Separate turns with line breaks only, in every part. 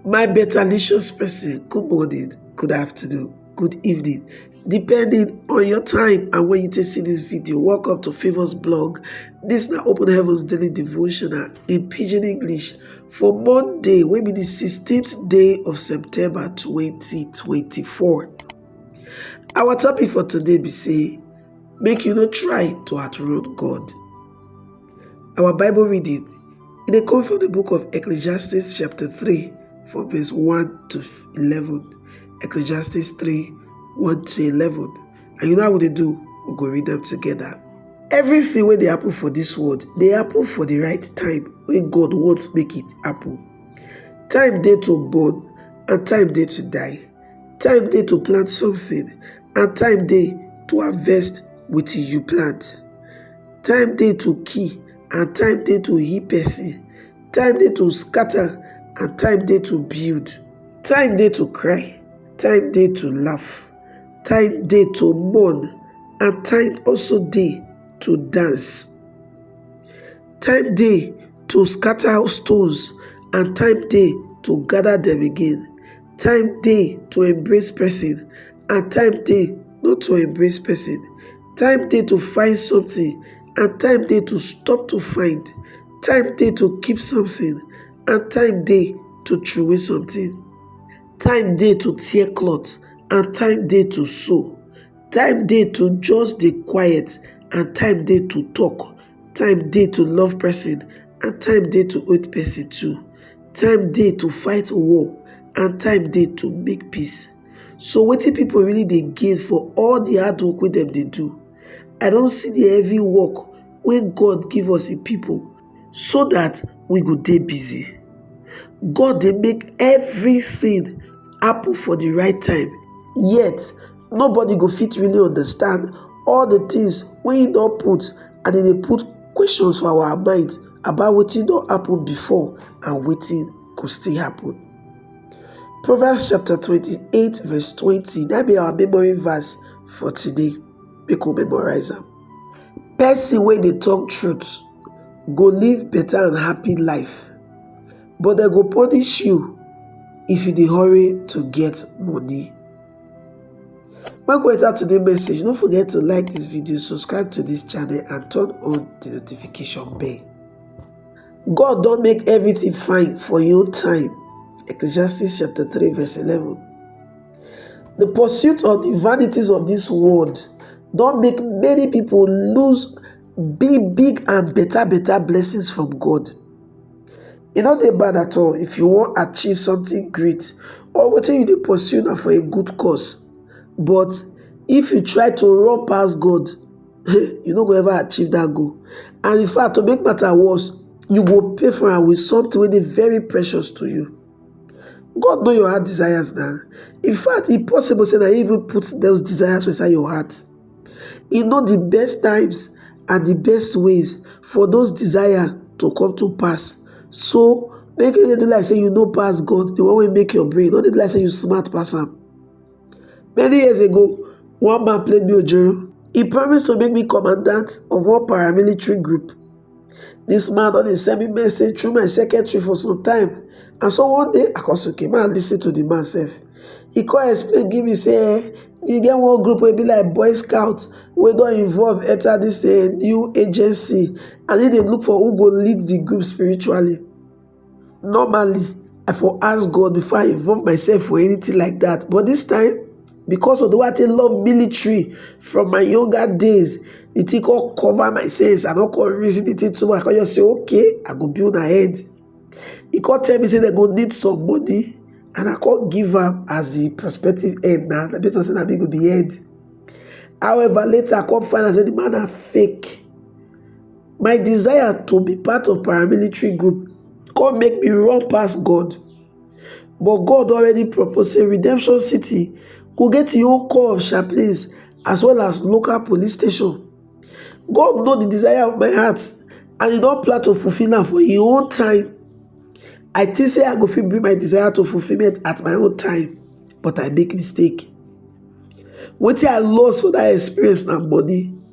My betterlicious person, good morning, good afternoon, good evening, depending on your time and when you take see this video. Welcome to Favors Blog. This na Open Heavens Daily Devotional in Pidgin English for Monday, wey be the 16th day of September 2024. Our topic for today be say, make you no try to outrun God. Our Bible reading it dey come from the book of Ecclesiastes chapter 3 from verse 1 to 11. Ecclesiastes 3 1 to 11. And you know how we dey do? We go read them together. Everything wey dey happen for this world dey happen for the right time wey God want make it happen. Time dey to born and time dey to die. Time dey to plant something and time dey to harvest wetin you plant. Time dey to kill and time dey to heal person, time dey to scatter and time dey to build. Time dey to cry, time dey to laugh, time dey to mourn and time also dey to dance. Time dey to scatter stones and time dey to gather dem again, time dey to embrace person and time dey not to embrace person. Time dey to find something and time dey to stop to find, time dey to keep something and time dey to throway something, time dey to tear cloth and time dey to sew, time dey to just dey quiet and time dey to talk, time dey to love person and time dey to hate person too, time dey to fight war and time dey to make peace. So wetin people really dey gain for all the hard work wey dem dey do? I don see the heavy work wey God give us in people so that we go dey busy. God dey make everything happen for the right time yet nobody go fit really understand all the things wey he don put and he dey put questions for our mind about wetin don happen before and wetin go still happen. Proverbs chapter 28 verse 20 na be our memory verse for today. Make we memorize am. Person wey dey talk truth go live better and happy life, but dem go punish you if you dey hurry to get money. Make we enter today message. No forget to like this video, subscribe to this channel and turn on the notification bell. God don make everything fine for your own time. Ecclesiastes chapter 3, verse 11. The pursuit of the vanities of this world don't make many people lose big, big and better, better blessings from God. E no dey bad at all if you wan achieve something great or wetin you dey pursue na for a good cause. But if you try to run pass God, you no go ever achieve that goal and in fact to make matter worse you go pay for am with something wey dey very precious to you god know your heart desires na in fact e possible say na him even put those desires for inside your heart e know the best times and the best ways for those desires to come to pass so make you no dey do like say you no pass god the one wey make your brain no dey do like say you smart pass am Many years ago, one man played me Ojoro. He promised to make me commandant of one paramilitary group. This man don dey send me message through my secretary for some time. And so one day, I come say, okay, man, listen to the man self. He come explain, give me, say, eh, you get one group wey be like Boy Scout wey don involve enter this uh, new agency and he dey look for who go lead the group spiritually. normally i for ask god before i involve myself for anything like that but this time because of the way i take love military from my younger days the thing come cover my sense i no come reason the thing too much i come just say okay i go build my head he come tell me say they go need some money and i come give am as the prospective head na na based on say na me go be head however later i come find out say the man na fake my desire to be part of paramilitary group come make me run pass God. But God already proposed say Redemption City go get im own corps of chaplains as well as local police station. God know the desire of my heart and he don plan to fulfill am for im own time. I think say I go fit bring my desire to fulfilment at my own time but I make mistake. Wetin I lost for that experience na money.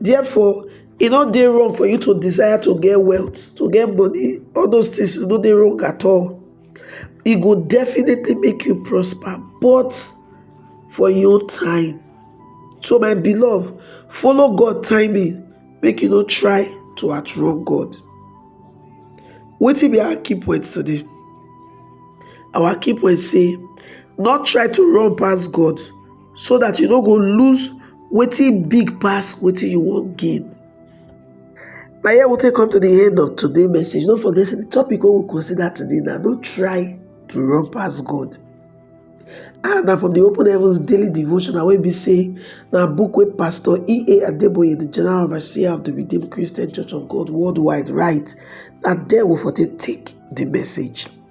Therefore, e no dey wrong for you to desire to get wealth, to get money, all those things e no dey wrong at all. E go definitely make you prosper, but for im own time. So my beloved, follow God timing, make you no try to outrun God. Wetin be our key point today? Our key point say, not try to run pass God. so that you no go lose wetin big pass wetin you wan gain na here we take come to the end of today message no forget say the topic wey we consider today na no try to run pass god and na from the open heavens daily devotional wey be say na book wey pastor ea adeboye the general overseer of the redeemed christian church of god worldwide write na there we for take take the message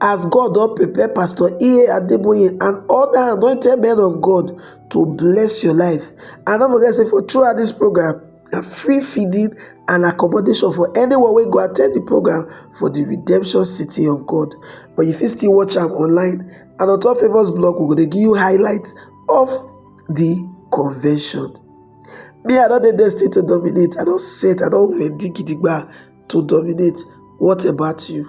as God don prepare Pastor E.A. Adeboye and other anointed men of God to bless your life. And don't forget, say for throughout this program, a free feeding and accommodation for anyone wey go attend the program for the redemption city of God. But you fit still watch am online and on top Favours blog, we go dey give you highlights of the convention. Me, I don dey destined to dominate. I don set, I don ready gidigba to dominate. What about you?